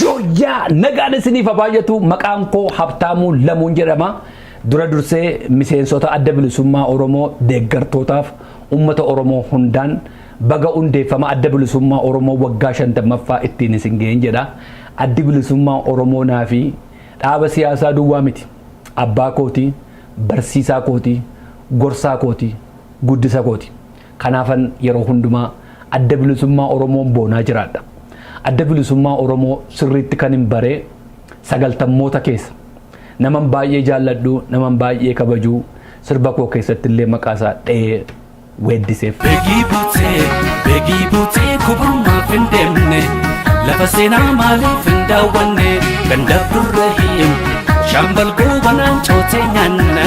Joyyaa nagaan isiniif haa baay'atu maqaan koo Habtaamuu Lamuun jedhama. Dura dursee miseensota adda bilisummaa Oromoo deeggartootaaf uummata Oromoo hundaan baga hundeeffama adda bilisummaa Oromoo waggaa 50ffaa ittiin isin ga'een jedha. Addi bilisummaa Oromoo naa fi dhaaba siyaasaa duwwaa miti. Abbaa kooti, barsiisaa kooti, gorsaa kooti, guddisa kooti. Kanaafan yeroo hundumaa Adda Bilisummaa Oromoon boonaa jiraadha. Adda Bilisummaa Oromoo sirriitti kanin bare sagaltammoota keessa. Naman baay'ee jaalladhu, naman baay'ee kabaju, sirba koo keessattillee maqaasaa dha'ee weeddiseef. Begii buutee, begii buutee kubumaaf hin deemne Lafa seenaa maaliif hin daawwanne Ganda Burrahiim, Shaambal Goobanaan cootee nyaanna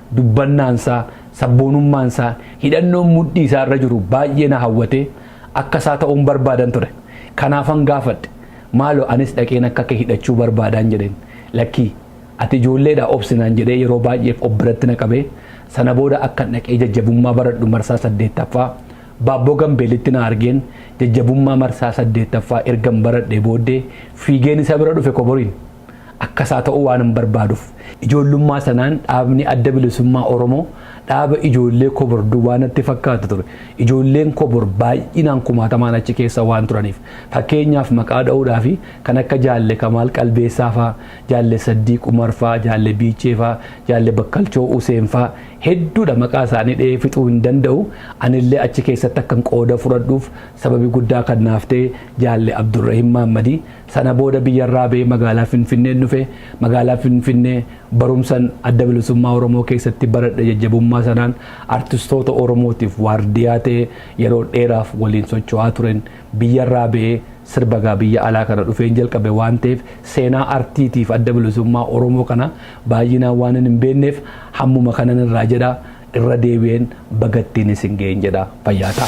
dubbannaansaa, sabboonummaansaa, hidhannoon mudhii isaa irra jiru baay'ee na hawwatee akka isaa ta'uun barbaadan ture. Kanaafan gaafadhe. Maaloo anis dhaqeen akka kee hidhachuu barbaadaan jedheen. Lakkii, ati ijoolleedha obsi naan jedhee yeroo baay'eef of biratti na qabee sana booda akkan dhaqee jajjabummaa baradhu marsaa saddeettaffaa Baabboo Gambeelitti na argeen jajjabummaa marsaa saddeettaffaa ergan baradhee booddee fiigeen isa bira dhufe koboriin. Akka isaa ta'uu waanan barbaaduuf ijoollummaa sanaan dhaabni adda bilisummaa Oromoo dhaaba ijoollee kobor duwwaa natti fakkaata ture. Ijoolleen kobor baay'inaan kumaatamaan achi keessa waan turaniif fakkeenyaaf maqaa dha'uudhaa fi kan akka jaalle Kamaal Qalbeessaa faa, jaalle Saddiiq Umar faa, jaalle Biichee faa, jaalle Bakkalchoo Useen faa hedduudha maqaa isaanii dha'ee fixuu hin danda'u. Anillee achi keessatti akkan qooda fudhadhuuf sababi guddaa kan naaf ta'e jaalle Abdurrahim Maammadii Sana booda biyyarraa ba'ee magaalaa Finfinneen dhufe. Magaalaa Finfinnee barumsan Adda Bilisummaa Oromoo keessatti baradhe jajjabummaa sanaan artistoota Oromootiif waardiyaa ta'ee yeroo dheeraaf waliin socho'aa turen biyyarraa ba'ee sirba gaa biyya alaa kana dhufeen jalqabe waan ta'eef seenaa artiitiif Adda Bilisummaa Oromoo kana baay'inaan waanan hin beekneef hammuma kanan irraa jedha irra deebi'een baga ittiin isin ga'een jedha fayyaa ta'aa.